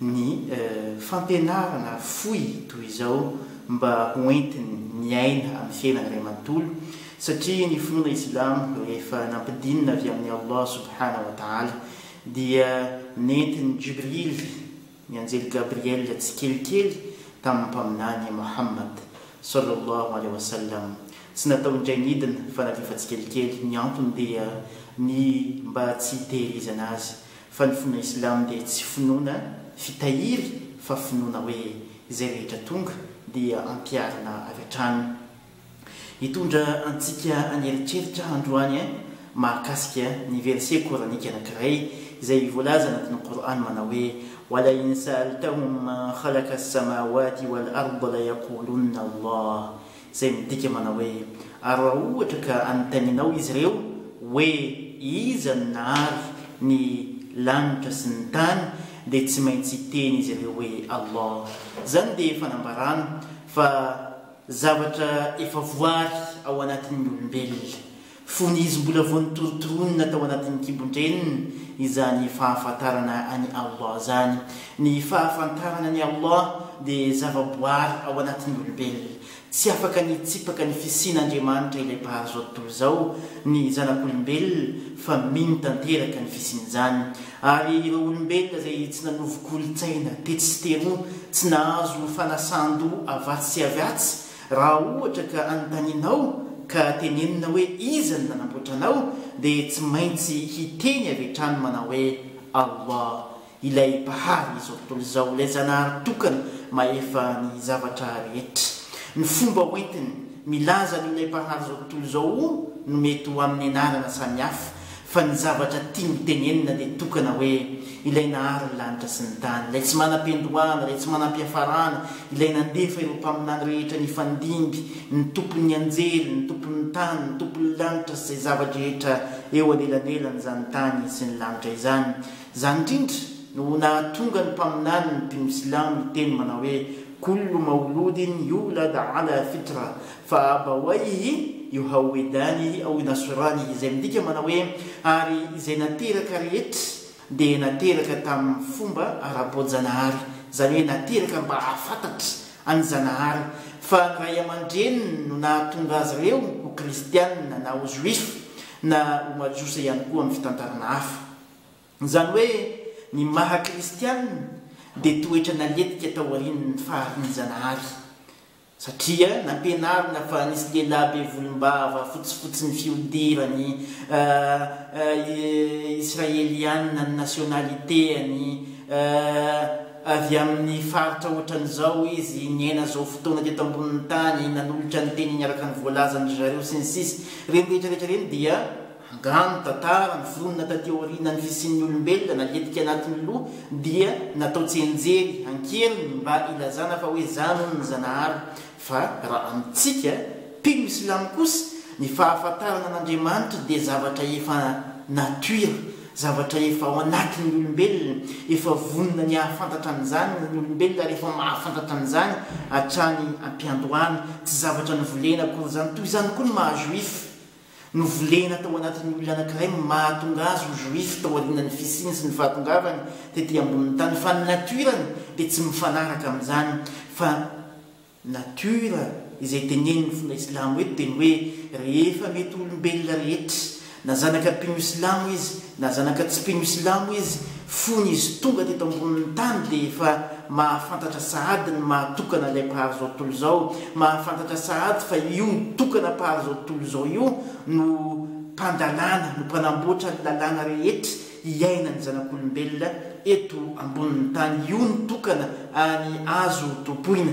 ny fampianarana fohy toy izao mba ho entiny miaina amin'ny fiainany iray manontolo, satria ny finoana islamo rehefa nampidinina avy amin'i Allah subhanahu wa ta'ala dia nentin'i Jibril, ny anjely Gabriel tsikelikely tamin'ny mpaminany Mohamad sallallahu alaihi wa sallam, tsy natao indray nidina fa nalefa tsikelikely, ny antony dia ny mba tsy hitehirizana azy Fa ny finoana islam dia tsy finoana fitahiry fa finoana hoe izay rehetra tonga dia ampiharina avy hatrany. Hitondra antsika an'eritreritra aho androany mahakasika ny verset koranika anankiray izay voalaza anatin'ny Qur'an manao hoe wa la in sa'altahum man khalaqa as-samawati wal arda la yaqulunna Allah izay midika manao hoe, Ary raha ohatra ka anontanianao izy ireo hoe, Iza no nahary ny lanitra sy ny tany? dia tsy maintsy hiteny izy ireo hoe, Allah. Izany dia fanambarana fa zavatra efa voary ao anatin'ny olombelona. Fony izy mbola vao nitorontoronina tao anatin'ny kibon-dreniny izany fahafantarana an'i Allah izany. Ny fahafantarana an'i Allah dia zava-boary ao anatin'ny olombelona. Tsy afaka ny hitsipaka ny fisian'Andriamanitra ilay mpahary izao tontolo izao ny zanak'olombelona fa mino tanteraka ny fisian'izany. Ary ireo olombelona izay tsy nanovo kolontsaina tetsy sy teroa, tsy nahazo fanasan-doha avy atsy sy avy atsy, Raha ohatra ka anontanianao ka tenenina hoe iza no nanamboatra anao dia tsy maintsy hiteny avy hatrany manao hoe Allah, Ilay Mpahary izao tontolo izao, Ilay Zanahary tokana mahefa ny zavatra rehetra. Ny fomba hoentiny milaza an'io Ilay Mpahary izao tontolo izao io no mety ho amin'ny anarana samihafa, Fa ny zavatra tiany ho tenenina dia tokana hoe ilay nahary ny lanitra sy ny tany, ilay tsy manam-piandohana, ilay tsy manam-piafarana, ilay nandefa ireo mpaminany rehetra nifandimby, ny Tompon'ny anjely, ny Tompon'ny tany, ny Tompon'ny lanitra sy izay zava-drehetra eo anelanelan'izany tany sy ny lanitra izany. Izany indrindra no nahatonga ny mpaminany ny mpino silamo hiteny manao hoe, Kullu mawludin yulad ala fitra, Fa Abawayhi yuhawidanihi aw yunaswiranihi, izay midika manao hoe, Ary izay nateraka rehetra dia nateraka tamin'ny fomba ara-boajanahary, izany hoe nateraka mba hahafantatra an'i Zanahary fa ny ray aman-dreniny no nahatonga azy ireo ho kristianina na ho joifo na ho majosa ihany koa amin'ny fitantarana hafa. Izany hoe ny maha-kristianina dia toetra naletika taorian'ny faharian'i Zanahary. Satria nampianarina fa nisy lehilahy be volombava fotsifotsy ny fihodirany, Israeliana ny nationalité-ny, avy amin'ny faritra ohatran'izao izy, niaina izao fotoana teto ambonin'ny tany, nanolotra ny teniny araka ny voalazan-dry zareo, sy ny sisa Ireny rehetra rehetra ireny dia. Angaha ny tantara nivonona taty aorianan'ny fisian'ny olombelona naletika anaty ny loha dia natao tsianjery an-keriny mba ilazana fa hoe izany hono ny Zanahary. Fa raha amintsika mpino silamo kosa, ny fahafantarana an'Andriamanitra dia zavatra efa nature, zavatra efa ao anatin'ny olombelona, efa vonona ny hahafantatra an'izany ny olombelona ary efa mahafantatra an'izany hatrany am-piandohana, tsy zavatra novolena akory izany. Toy izany koa ny maha-Juif. Novolena tao anatin'ny olona anankiray ny mahatonga azy ho Joify taorianan'ny fisiany sy ny fahatongavany tety ambonin'ny tany, fa ny natirany dia tsy mifanaraka amin'izany, fa nature izay tenenin'ny finoana islamo eto dia ny hoe rehefa mety ho olombelona rehetra na zanaka mpino islamo izy, Na zanaka tsy mpino silamo izy, fony izy tonga teto ambonin'ny tany dia efa mahafantatra sahady ny maha tokana ilay Mpahary izao tontolo izao, mahafantatra sahady fa io tokana Mpahary izao tontolo izao io no mpandalana, no mpanamboatra ny lalàna rehetra iainan'ny zanak'olombelona eto ambonin'ny tany, io no tokana any azo tompoina.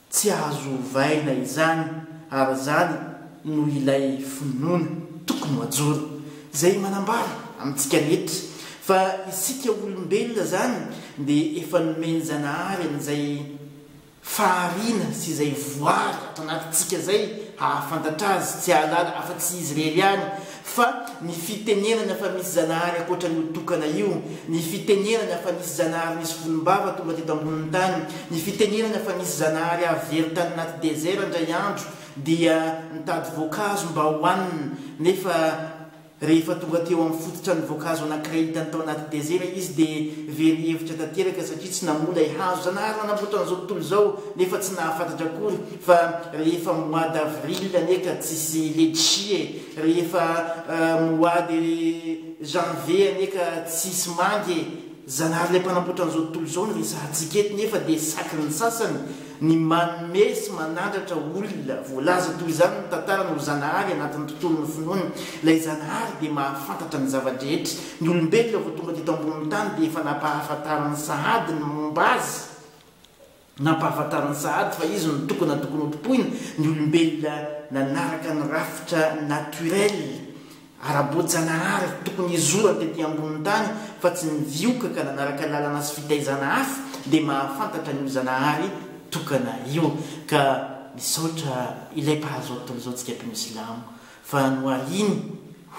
Tsy azo ovaina izany ary izany no ilay finoana tokony ho ajoro. Izay manambara amintsika rehetra fa isika olombelona izany dia efa nomen'i Zanahary an'izay fahariana sy izay voary ato anatintsika izay hahafantatra Azy, tsy hahalala afa-tsy Izy irery ihany. Fa ny fitenenana fa misy Zanahary ankoatra ny ho tokana io, ny fitenenana fa nisy Zanahary nisy volombava tonga teto ambonin'ny tany, ny fitenenana fa nisy Zanahary avy very tany anaty dezera indray andro dia nitady voankazo mba hohanina, nefa rehefa tonga teo amin'ny fototran'ny voankazo anankiray hitany tao anaty dezera izy dia very hevitra tanteraka satria tsy namoa ilay hazo, Zanahary nanamboatra an'izao tontolo izao nefa tsy nahafantatra akory Fa rehefa mois d'avril anie ka tsisy letchie e, rehefa mois de janvier anie ka tsisy mangy e, Zanahary ilay mpanamboatra an'izao tontolo izao no resahantsika eto nefa dia sakin'ny sasany ny manome sy manandratra olona voalaza toy izany ny tantarany ho Zanahary anatin'ny tontolon'ny finoana. Ilay Zanahary dia mahafantatra ny zava-drehetra. Ny olombelona vao tonga teto ambonin'ny tany dia efa nampahafantariny sahady ny momba azy. Nampahafantariny sahady fa izy no tokana na tokony hotompoina, ny olombelona nanaraka ny rafitra naturel, ara-boajanahary, tokony hizorany tety ambonin'ny tany fa tsy nivioka ka nanaraka lalana sy fitaizana hafa dia mahafantatra an'io Zanahary tokana io. Ka misaotra ilay mpahazo atolozaontsika mpino silamo. Fa noaliny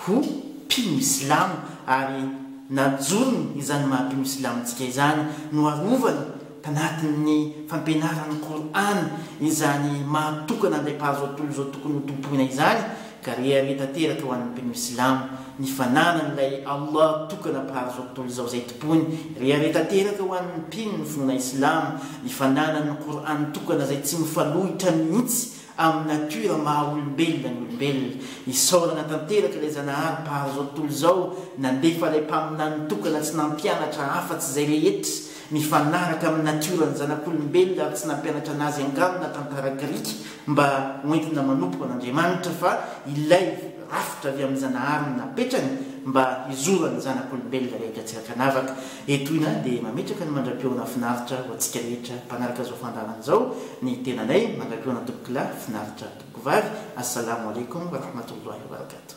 ho mpino silamo ary najono izany maha mpino silamontsika izany, noarovany tanatin'ny fampianaran'ny Qur'an izany maha tokana andepa zao tontolo izao tokony ho tompoina izany, ka rehabe tanteraka ho an'ny mpino silamo ny fananan'ilay Allah tokana mpahary zao tontolo izao izay tompony, rehabe tanteraka ho an'ny mpino ny finoana islamo ny fananan'ny Qur'an tokana izay tsy mifaloitra mihitsy Amin'ny natiora maha olombelona ny olombelona. Isaorana tanteraka ilay Zanahary mpahary izao tontolo izao nandefa ilay mpaminany tokana tsy nampianatra afa tsy izay rehetra mifanaraka amin'ny natioran'ny zanak'olombelona ary tsy nampianatra anazy angano na tantara grika mba ho entina manompo an'Andriamanitra fa ilay rafitra avy amin'ny Zanahary no napetrany mba hizoran'ny zanak'olombelona rehetra tsy ankanavaka Etoy aho dia mametraka ny mandra-pihaona finaritra ho antsika rehetra mpanaraka izao fandaharana izao, ny tenanay, mandra-pihaona tompoko lahy, finaritra tompoko vavy, As-salamu alaikum wa rahmatullahi wa barakatuh.